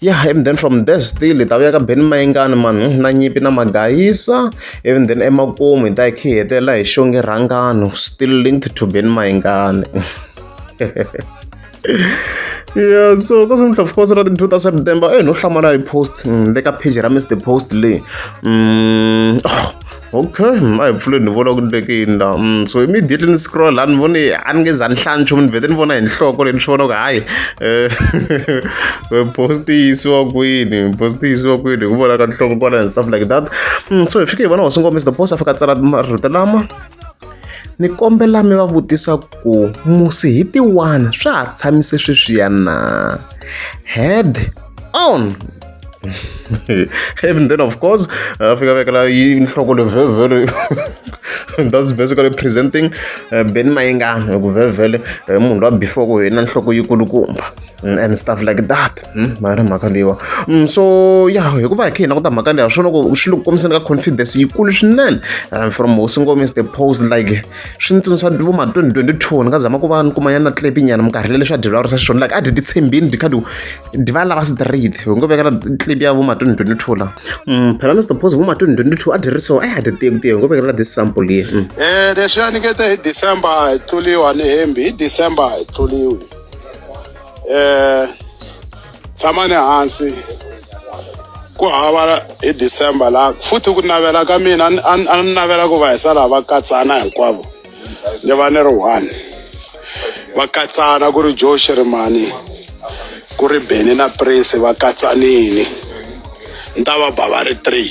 ya even then from there still hi ta vuya ka beni mayengani mani na nyimpi na magayisa even then emakumu hi ta hi khe hi hetelela hi xonge rhangano still linked to beni mayengani yeah so ka swi of course ra ti two ta september eh no hlamala hi post mm, le ka page ra mr post leyi mm, oh. okay mm, a hi pfuleni ni vona ku ndleke yini la mm, so immediately ni scroll a ni voni a ni nge za ni hlaya nchumu ni vhete ni vona hi nhloko leyi ni swi vona ku hayi eh, eh, post yi yisiwa kwini post yi yisiwa kwini hi ku vona ka nhloko kwala and stuff like that mm, so hi fike hi vona hosi ngomisa the post a fika tsala marito lama ni kombela mi va vutisa ku musi hi tiwani swa ha tshamise sweswiya na head on and then of course afika uh, vekela inhloko levhevhele and that's basically presenting uh, ben mayengana hi ku vhevhele uh, munhu lowa before ku hina nhloko yikulukumba mm, and stuff like that mm, mari mhaka leyiwa mm, so ya hikuva hi kha hina ku ta mhaka leya swi loko swi le ku kombiseni ka confidence yikulu swinene um, from hosi ngomis the post like swi ni tsundzuxa vo ma 2022 ni nga zama ku va ni kumanyana na tlepinyana minkarhi leleswi a dyeriwa risa xiswona like a dyi titshembini dyi kha diva lava swi tirhidi hi ngo vekela clip ya vuma 2022 la mm, phela ni swi suppose vuma 2022 a dyi ri so a hi dyi tiyeku tiye hi ngo vekela this sample ye um mm. leswi a ni nge te hi december a hi tluliwa ni hembi hi december a hi tluliwi um tshama ni hansi ku hava hi december la futhi ku navela ka mina a ni navela ku va hi sala va katsana hinkwavo ni va ni ri one va katsana ku ri joe shirimani ku ri beni na prince va katsanini ni ta va ba va ri three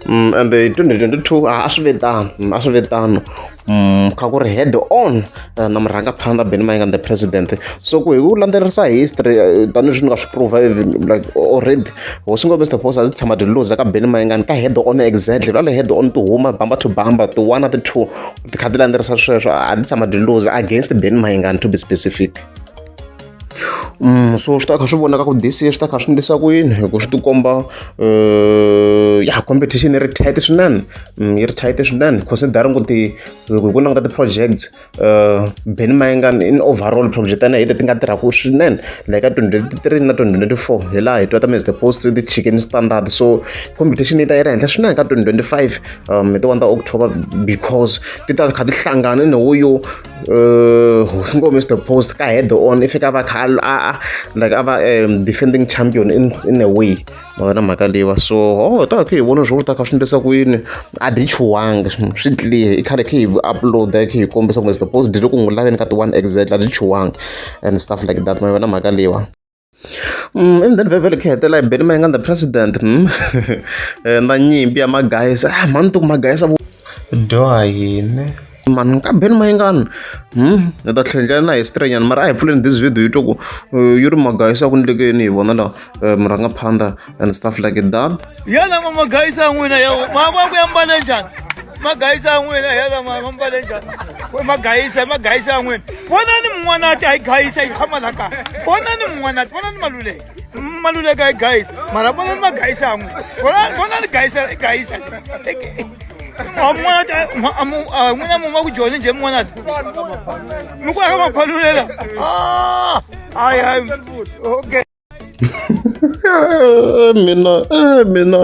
mm, and 2022 a swi ve tano mm, a swi ve tano mm, kha ku ri head on eh, na murhangaphanḓa beni mainga the president so ku hi ku landzelerisa history eh, tanihi swi ni nga swi prova eh, like already hosi ngo mr boss a ndzi tshama tiluza ka beni maingani ka head on exactly lale head on ti huma bamba to bamba ti one ti two ti kha ti landzelerisa sweswo a ndzi tshama tiluza against beni maingani to be specific Mm, so swi ta kha swi vonaka ku this year swi ta kha swi ndlisa ku yini hi ku swi tikomba eh, ya competition yi ri tight swinene mm, yi ri tight swinene considering ku ti loko hi ku languta ti-projects uh, beni mayingani in overall project ana hete ti nga tirhaku swinene like ka 2023 na 2024 hi laha hi twa ta mr post ti chicken standard so competition yi ta yi ri henhla swinene ka 2025 um hi ti one ta october because ti ta kha ti hlangana ni wo yo uh, hosi ngo mr post ka head on i fika va kha a like a va um defending champion in, in a way ma vona mhaka leyiwa so oh ta khe hi vona swo ta kha swi endlisa ku yini a dyi chuwangi swi clear i khale khe hi uploada khe hi kombisa kumbe suppose dyi loko n'wi laveni ka ti-one exact a dyi chuwangi and stuff like that ma vona mhaka leyiwa Mm, and then vhevhele khe hetela hi beli ma yi nga the president mm. eh, na nyimpi ya magayisa ah, mani tuku magayisa dyoha yini mani kambeni mayingani hmm? ni ta tlhendlela na history nyana mara a hi pfuleni this video yi twa ku eh, yi ri magayisa ku ndlekeni hi vona la eh, murhangaphanda and stuff like that yena ma magayisa ya n'wina ya mama ku ya mbale njhani magayisa ya n'wina yena mama mbale njhani magayisa magayisa ya n'wina vonani mun'wanati a yi gayisa yi tshama la kaya vonani mun'wanati vonani maluleke maluleka igayisa mara vona ni magayisa amwe vona ni gayisa igayisa n'wina muma ku joni nje mona mi ku aka maphalulela hayi hayi okay mina mina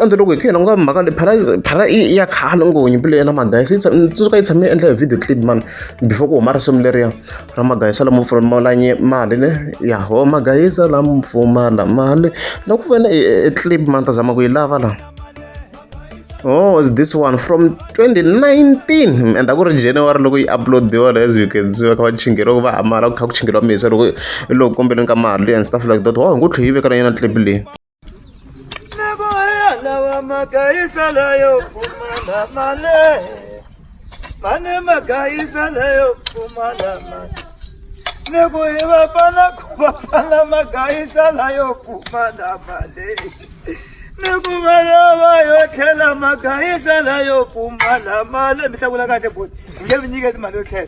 andzi loko hi kha hi languta mhaka leyi phara phara ya khale ngonyimpi leyi ya na magayisa yi tsuka yi tshame yi endla hi video clip mani before ku huma risimu leriya ra magayisa lamo pfumala mali ne ya ho magayisa lamo pfumala mali na ku vona e clip ma ni ta zama ku yi lava la oh is this one from 2019 and a ku ri january loko yi uploadiwa as you can see va kha va chingeriwa ku va hamala ku kha ku chingeriwa misa loko loko kombeleni ka mali and stuff like that wa hi ngo tlhe yi veka na yona clip leyi mane magayisa leyo pfumala mane neku hi vafana ku vafana magayisa layo pfumala mane neku vana va yo tlhela magayisa layo pfumala mane mi hlakula kahle boti hi nge mi nyiketi mali yo tlhela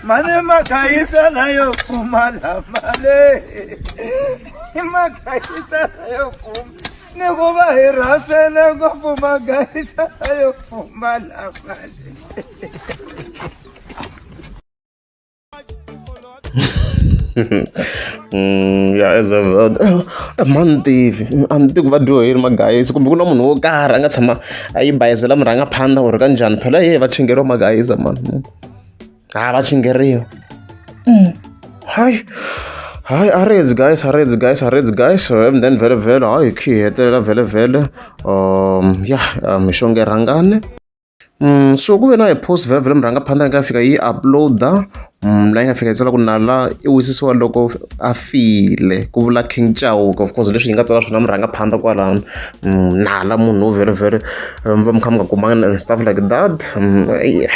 mane magayisa layo pfumala mane i magayisa yo fuma ni ku va hi rhasele ngopfu magayisa yo fuma lamali Mm, ya as a mani tivi a ni tivi ku va dyoheri magayisi kumbe ku na munhu wo karhi a nga tshama a yi bayizela murhangaphandla or ka njhani phela ye va chingeriwa magayisa mani ha va chingeriwa mm. hayi hayi a redzi guys a redzi guys a redzi guys and then vhele vhele hayi hi khi hi hetelela vhele vhele um ya um, mixonge rhangane um so ku ve na hi post vhele vhele mi rhanga phanda nga fika yi uploada um la yi nga fika yi tsala ku nala i wisisiwa loko a file ku vula king chauka of course leswi yi nga tsala swona mi rhanga phanda kwalano um nala munhu wo vhele vhele um, va mi kha mi nga kumanga and stuff like that um, yeah.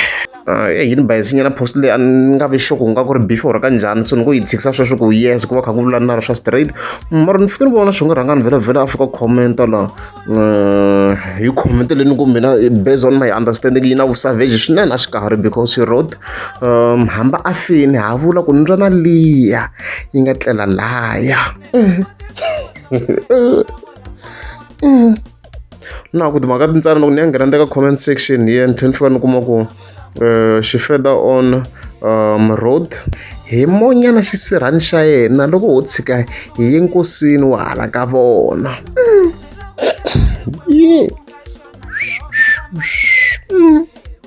Ah, eh, yini bayisinyana post leyi a ni nga vi xoko ku nga ku ri before ka njhani so ni ngo yi tshikisa sweswi ku yes ku va kha ku vulani na ri swa straight mara ni fike ni vona swi nga rhanga ni vhela vhela a fika commenta la eh, hi comment leyi ni ku mina eh, based on my understanding yi na vusavage swinene a xi kahari because she wrote um hamba a fini ha vula ku ni twa na liya yi nga tlela laya mm. Mm. na ku timhaka tintsana loko ni ya nghena ka comment section hi ni tlhela ni fika ni kuma ku um xi feda on um road hi monyana xisirhani xa yena loko ho tshika hi ye nkosini wa hala ka vona mm.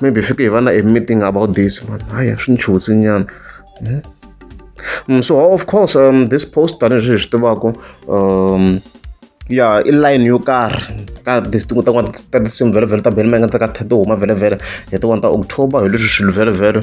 maybe fike hi va na a meeting about this man haya swi ni chuhisi nyana hmm? mm, so of course um, this post tanihileswi hi swi tivaka um, ya i line yo karhi ka tin'we ta n'wana ta tinsimu vhelovhelo ta benimanga ta ka thete huma vhelovhelo hi tin'wana ta october hi leswi swilo vhelovhelo